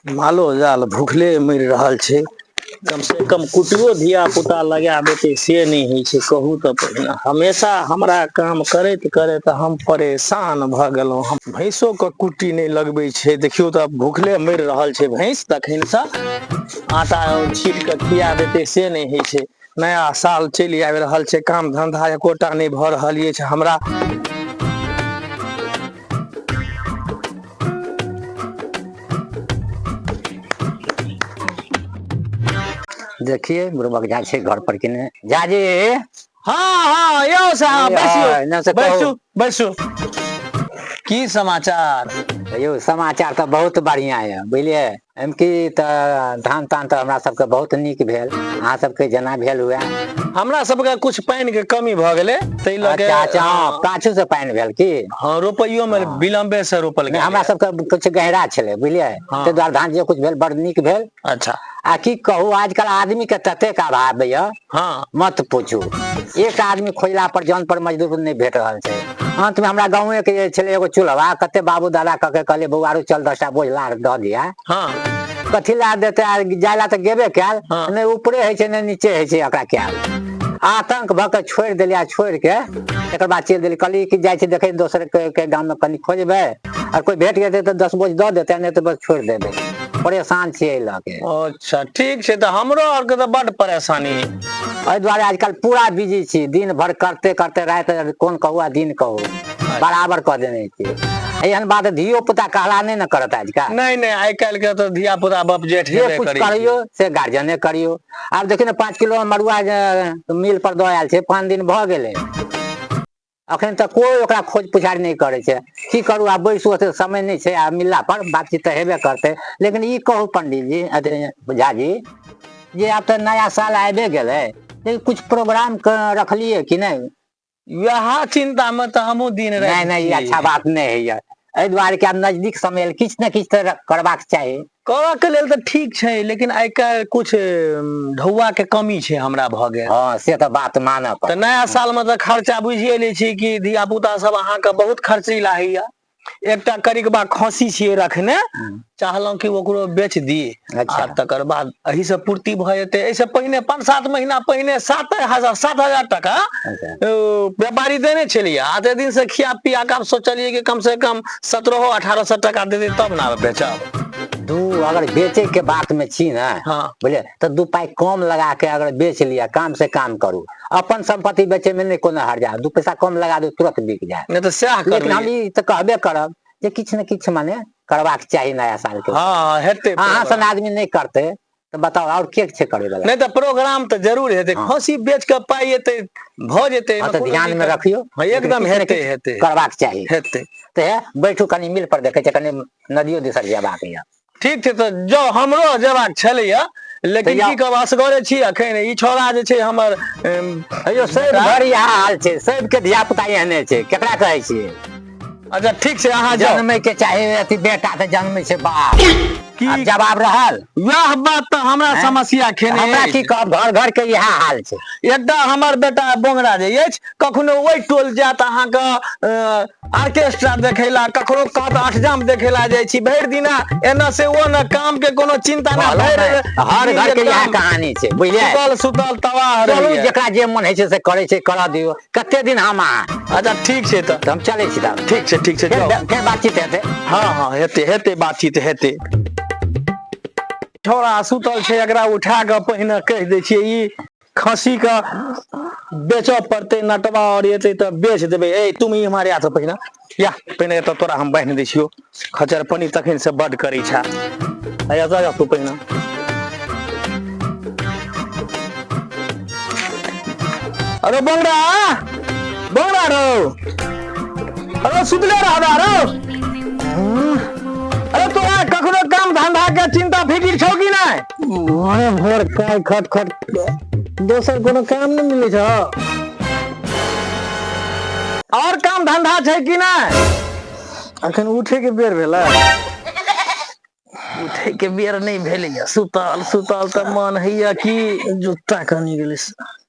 मालो जाल भूखले मरि रहल छै कम से कम कुटियो धिया पुता लगा देते से नहि होइ छै कहू तऽ पहिने हमेशा हमरा काम करैत करैत हम परेशान भऽ गेलहुँ हम भैंसो के कुट्टी नहि लगबै छै देखियौ तऽ भूखले मरि रहल छै भैंस तखन से आटा छीट कऽ खिया देते से नहि होइ छै नया साल चलि आबि रहल छै काम धन्धा एकोटा नहि भऽ रहल अछि हमरा देखिए बुढ़बक जा छै घर पर कि ने जाजे हाँ हाँ यो साहब बैसू बैसू बैसू की समाचार यो समाचार तो बहुत बढ़िया है बुझलिए एम की तऽ धान तान तऽ हमरा सबके बहुत नीक भेल अहाँ सबके जेना भेल हुए हमरा सबके कुछ पानि के कमी भऽ गेलै ताहि लऽ के अच्छा अच्छा हँ पाछू से पानि भेल की हँ रोपैयो मे विलम्बे से रोपल नहि, गेल हमरा सबके कुछ गहरा छलै बुझलियै हँ। ताहि दुआरे धान जे कुछ भेल बड़ नीक भेल अच्छा आ की कहू आजकल आदमी के ततेक अभाव यऽ हँ मत पूछू एक आदमी खोजला पर जन पर मजदूर नहि भेट रहल छै अंत मे हमरा गावे के जे छले एगो चूल्हा कते बाबू दादा क के कहलियै बौआरू चल दसटा बोझला दऽ दिया हँ कथी लए देते आ जाय लए तऽ गेबे कयल हँ। नहि ऊपरे होइ छै नहि नीचे होइ छै एकरा कयल आतंक भऽ कऽ छोड़ि देलियै आ छोड़ि के एकर बाद चलि देलियै कहलियै कि जाइ छी देखै दोसर के, के गाम मे कनि खोजबै आ कोई भेट जेतै तऽ दस बोझ दऽ देतै नहि तऽ बस छोड़ि देबै परेशान छियै एहि लऽ के अच्छा ठीक छै तऽ हमरो आरके तऽ बड्ड परेशानी है एहि दुआरे आजकल पूरा बिजी छी दिन भर करते करते राति कोन कहू आ दिन कहू बराबर कऽ देने छी एहन बात धियो पुता कहला नहि ने करत आजकल नहि नहि आइ काल्हि के तऽ धिया पुता बाप जेठ जे हेबे कुछ करै छै। करियो से गार्जियने करियो आब देखियौ ने पाँच किलो मड़ुआ जे मिल पर दऽ आयल छै पाँच दिन भऽ गेलै अखन तक कोइ ओकरा खोज पुछारि नहि करै छै की करू आब बैसू ओते समय नहि छै आ मिलला पर बातचीत तऽ हेबे करतै लेकिन ई कहू पंडित जी झा जी जे आब तऽ नया साल आबे गेलै लेकिन कुछ प्रोग्राम रखलियै कि नहि वएह चिंता में तऽ हमहूँ दिन नहि नहि अच्छा बात नहि होइए एहि दुआरे कि आब नजदीक समय किछु ने किछु तऽ करबाक चाही करऽ के लेल तऽ ठीक छै लेकिन आइ काल्हि कुछ ढौआ के कमी छै हमरा भऽ गेल हँ से तऽ बात मानऽ तऽ पड़त नया साल मे तऽ खर्चा बुझिए लै छी कि धिया पुता सब अहाँके बहुत खर्चीला होइया एकटा करिकबा खसी छियै रखने हम्म, चाहलहुँ कि ओकरो बेच दी अच्छा। आ तकर बाद एहि से पूर्ति भऽ जेतै एहिसँ पहिने पाँच सात महीना पहिने सात हजार सात हजार टाका अच्छा। ओ व्यापारी देने छलियै आते दिन से खिया पिया कऽ आब सोचलियै कि कम से कम सत्रहो अठारह सौ टका देते तब ना बेचब दू अगर बेचे के बात में छी ना हाँ। बोले तो दू पाई कम लगा के अगर बेच लिया काम से काम करू अपन संपत्ति बेचे में नहीं कोनो हर जाए दू पैसा कम लगा दू तुरंत बिक जाए नहीं तो सएह कर लेकिन हम ली ई तऽ कहबे करब जे किछु ने किछु माने करबाक चाही नया साल के हाँ हेतै अहाँ सन आदमी नहीं करते तऽ बताओ और के छै करे वाला नहीं तो प्रोग्राम तो जरूर हेतै हाँ। खसी बेच के पाई हेतै भ जेतै हाँ, एहिमे तो कोनो ध्यान में दिक्कत- रखियो हाँ, एकदम किछु ने हेतै किछु हेतै करबाक चाही हेतै ते है बैठू कनी मिल पर देखे छै कनी नदियो दिसर जेबाक यऽ ठीक छै तऽ जाउ हमरो जेबाक छलैया लेकिन तऽ जाउ। की कहब असगरे छी अखन ई छौड़ा जे छै हमर अम, अयो सब बेटा, घर इएह हाल छै सबके धिया पुता एहने छै केकरा कहै छियै अच्छा ठीक छै अहाँ जाउ जन्मे के चाहे अथी बेटा तऽ जन्मे छै बाप की आब जवाब रहल वएह बात तऽ हमरा हैं? समस्या खेने हमरा अछि। की कहब घर घर के इएह हाल छै एकटा हमर बेटा बोंगरा जे अछि कखनो ओहि टोल जायत अहाँके अ, ऑर्केस्ट्रा देखै ला ककरो कहत अठजाम देखै ला जाइ छी भरि दिना एना से ओ ने काम के कोनो चिंता ना कहलहुँ भरि ने, हर घर के इएह कहानी छै बुझलियै सुतल सुतल तबाह चलू रहैया। जेकरा जे मन होइ छै से करै छै करऽ दियौ कते दिन हम अहाँ अच्छा ठीक छै तऽ तऽ हम चलै छी तब ठीक छै ठीक छै फेर जाउ फेर बातचीत हेतै हँ हँ हेतै हेतै बातचीत हेतै छोरा सुतल छै एकरा उठा कऽ पहिने कहि दै छियै ई खस्सी के बेचऽ पड़तै नटवा और एतै तऽ बेच देबै ए तुम इम्हर आ तऽ पहिने या पहिने एतऽ तोरा हम बान्हि दै छियौ खचर पानि तखन से बड करै छा आया जा जा तू पहिने अरे बंगड़ा बंगड़ा रो अरे सुतले रहबा रो अरे तोरा कखनो काम धंधा के चिंता फिकिर छौ कि नहि भोरे भोर काय खट खट दोसर कोनो काम नहि मिलै छ आओर काम धन्धा छै कि नहि अखन उठेके बेर भेलै उठे के बेर नहि भेलैए सुतल सुतल तऽ मन होइया कि जुता कनि गेलै स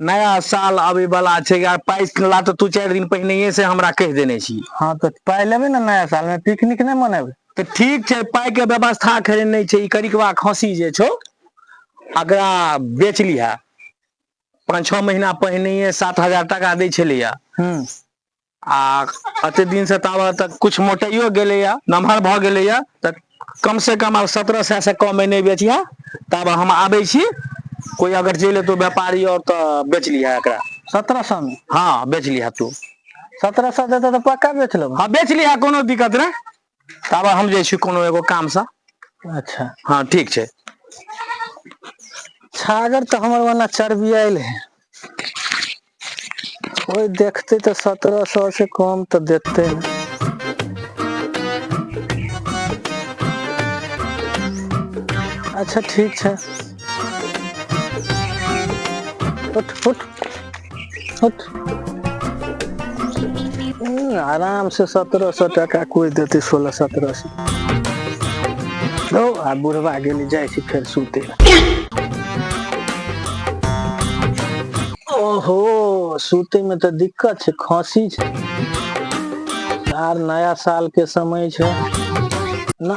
नया साल आबे वाला छै यार पाइ ला तऽ तू चारि दिन पहिने से हमरा कहि देने छी हाँ तऽ पाइ लेबे ने नया साल में पिकनिक नहीं मनेबे तऽ ठीक छै पाइ के व्यवस्था खरे नहीं छै ई करिकवा खसी जे छौ अगरा बेच लिहा पाँच छः महीना पहिने सात हजार टका दै छलैया हम्म। आ एते दिन से ताब तक कुछ मोटाइयो गेलैए नमहर भऽ गेलैए तऽ कम से कम आब सत्रह सए से कमे नहि बेचिहे तब हम आबै छी कोइ अगर चलि एतौ व्यापारी आऔर तऽ बेच लिहे एकरा सत्रह सए मे हँ बेच लिहे तू सत्रह सए देतऽ तऽ पक्का बेच लेबऽ हँ बेच लिहे कोनो दिक्कत नहि ताबे हम जाइ छी कोनो एगो काम सँ अच्छा हँ ठीक छै छागर तऽ हमर ओना चर्बियाइल हे ओहि देखतै तऽ सत्ररह सौ से कम तऽ देतै ने अच्छा ठीक छै उठ उठ उठ हम्म, आराम से सत्रह सौ टका कोई देते सोलह सत्रह सौ लो आ बुढ़वा गेली जाइ छी फेर सुते ओहो सुते में तो दिक्कत छै खांसी छै आर नया साल के समय छै ना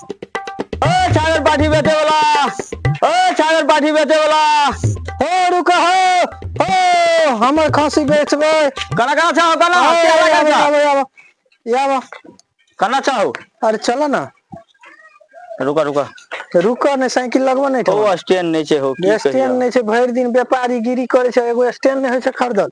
ओय छागर पाठी बेचे वला ओय छागर पाठी बेचे वला हो रुकऽ हो हो हमर खस्सी बेचबै कना कना छौ कना आबो, के आबो, लगा आबो, छौ आबो, आबो। ई आबो। कना छौ अरे चलऽ न रुका रुका रुकऽ नहि साइकिल लगबऽ नहि ओ ठोकऽ। स्टैंड नहीं छे हो की स्टैंड कहियो। नहि छै भरि दिन व्यापारी गिरी करै छै एगो स्टैंड नहि होइ छै खरीदल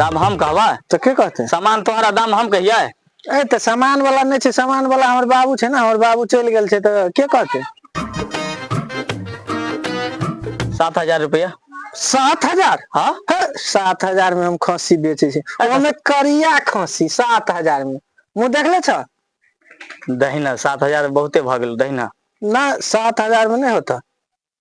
दाम हम कहबै तऽ के कहतै सामान तोहरा दाम हम कहियै ए तऽ सामान वाला नहि छै सामान वाला हमर बाबू छै ने हमर बाबू चलि गेल छै तऽ के कहतै सात हजार रुपया सात हजार हाँ हे, सात हजार में हम खस्सी बेचे छी ओमे करिया खस्सी सात हजार में मुँह देखले छ दहिना सात हजार बहुते भऽ गेल दहिना ना सात हजार में नहीं होता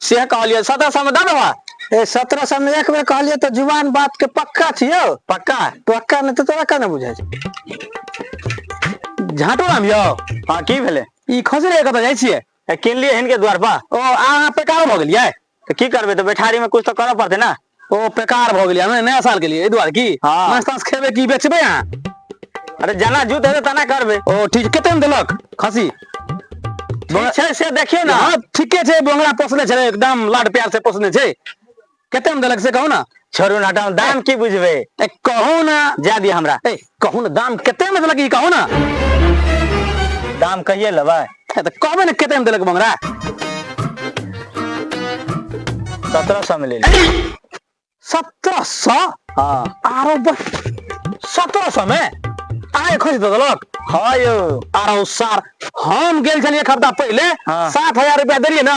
से कहलियै सत्रह सौ में दबे है ए सत्रह सौ में एक बेर कहलियै तो जुबान बात के पक्का छियो पक्का पक्का नहीं तो तोरा कहना बुझे झाटो राम यो हाँ की भेले ई खसरे कत जाय छिए किनलिए हिनके द्वार पर ओ अहाँ पे का भऽ गेलियै तो की करबे तो बैठारी में कुछ तो करऽ पड़ते ना ओ बेकार भऽ गेलियै हमे नया साल के लिए एहि दुआरे की हाँ। माछ ताछ खेबै की बेचबै अहाँ अरे जेना जुत हेतै तेना करबै ओ ठीक छै कतेक देलक खसी ठीक छै से देखियौ ने हाँ ठीके छै बोंगरा पोसने छै एकदम लाड प्यार से पोसने छै कतेक देलक से कहू ने छोड़ू ने हटाउ दाम की बुझबै ए कहू ने जाय दिअ हमरा ए कहू ने दाम कते में देलक ई कहू ना दाम कहिए लेबै ए, तऽ कहबे ने कते में देलक बंगरा सत्रह सौ में ले ली सत्रह सौ हाँ आरो बस सत्रह सौ में आए खोज दे देलक हाँ यौ आरो सार हम गेल छलिए एक हफ्ता पहले हाँ। सात हजार रुपया देलिए ना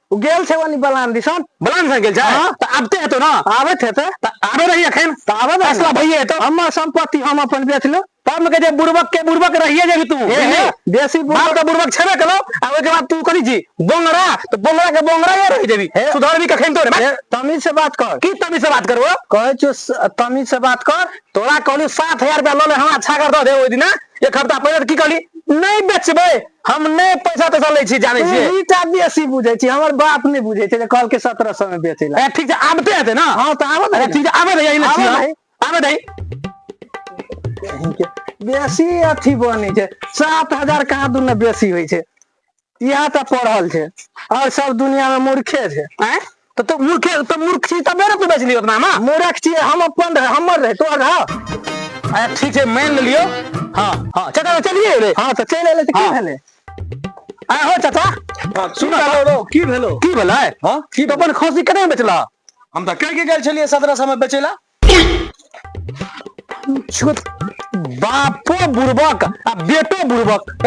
ओ गेल छै ओनी बलान दिसन बलान सा गेल छै हाँ। तऽ आबते हेतौ ने आबैत हेतै तऽ आबे रही एखन तऽ आबे दही फैसला ने। भइए हेतौ हमर सम्पत्ति हम अपन बेच लेब तब के जे बुड़बक के बुड़बक रहिए जेबही तू हे हे बुझली बेसी बुड़बक- बाप के बुड़बक छेबे केलौ आ ओहिके बाद तू कथी छी बोंगरा तऽ बोंगरा के बोंगरा या रहि जेबही हे। सुधरबी कखन तोरे हे, तमीज से बात कर की तमीज से बात करबो कहै छियौ स- तमीज से बात कर तोरा कहलू सात हजार रुपया लऽ ले हमरा छागर दऽ दे ओहि दिना एक हफ्ता पहिले तऽ की कहली नहि बेचबै हम नहि पैसा तैसा लै छी जानै छियै ई टा बेसी बुझै छी हमर बाप नहि बुझै छै जे कहलकै सत्रह सए मे बेचै लए ठीक छै आबते हेतै ने हँ तऽ आबऽ दही ठीक छै आबऽ दही एहि लए छियै आबऽ दही बेसी अथी बनै छै सात हजार कहाँ दुन बेसी होइ छै इएह तऽ पढ़ल छै और सब दुनिया में मूर्खे छै तो तू मूर्ख तो मूर्ख छी तबे ना तू बेचली उतना में मूर्ख छी हम अपन रहे हमर रहे तोहर रहा अच्छा ठीक है मान ले लियो हाँ हाँ चाचा चलिए रे हाँ तो चल ले तो की भेले आ हो चाचा हाँ, सुन लो रो की भेलो की भेले हाँ की तो अपन खसी कने बेचला हम तो कह के गेल छलिए सदरा समय बेचेला छोट बापो बुड़बक आ बेटो बुड़बक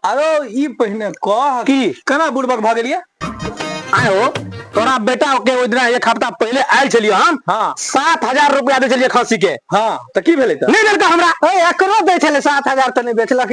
अरे ई पहिने कह की केना बुड़बक भऽ गेलियै आयो तोरा बेटा के ओहि दिना एक हफ्ता पहले आयल छलियो हम हाँ सात हजार रुपया दे छलियै खसी के हाँ तऽ की भेलै तऽ नहि देलका हमरा एकरो दै छलै सात हजार तऽ नहि बेचलक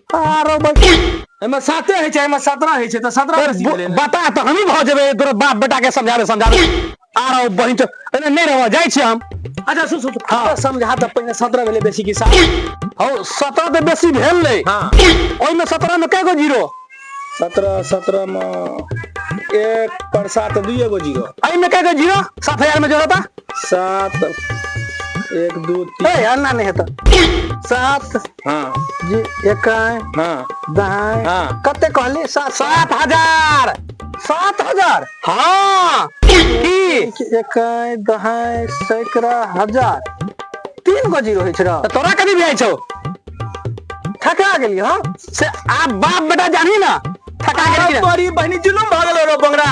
आरो एहिमे साते होइ छै एहिमे सत्रह होइ छै तऽ सत्रह बेसी भेलै ने बता तऽ हमही भऽ जेबै तोरा बाप बेटा के समझाबे समझाबे आरो बहिन चो- एने नहि रहबऽ जाइ छी हम अच्छा सुन सुन हाँ। तोरा समझा तऽ पहिने सत्रह भेलै बेसी कि सात हौ सत्रह तऽ बेसी भेल रहै हाँ। ओहिमे सत्रह मे कए गो जीरो सत्रह सत्रह मे एक पर सात दुइए गो जीरो एहिमे कए गो जीरो सात हजार मे जोड़ो तऽ सात एक दू तीन ए अन्ना नहि हेतऽ सात हँ जी एकाएं हँ दाएं हँ। कते कहली सात सात सात हजार सात हजार हाँ की एकाएं दाएं सैकड़ा हजार तीन गो जीरो होइ छै रह तऽ तोरा कथी बुझाइ छौ ठका गेली हँ से आब बाप बेटा जानी ना ठका गेली तोरी बहनी जुलूम भऽ गेलो रो बंगरा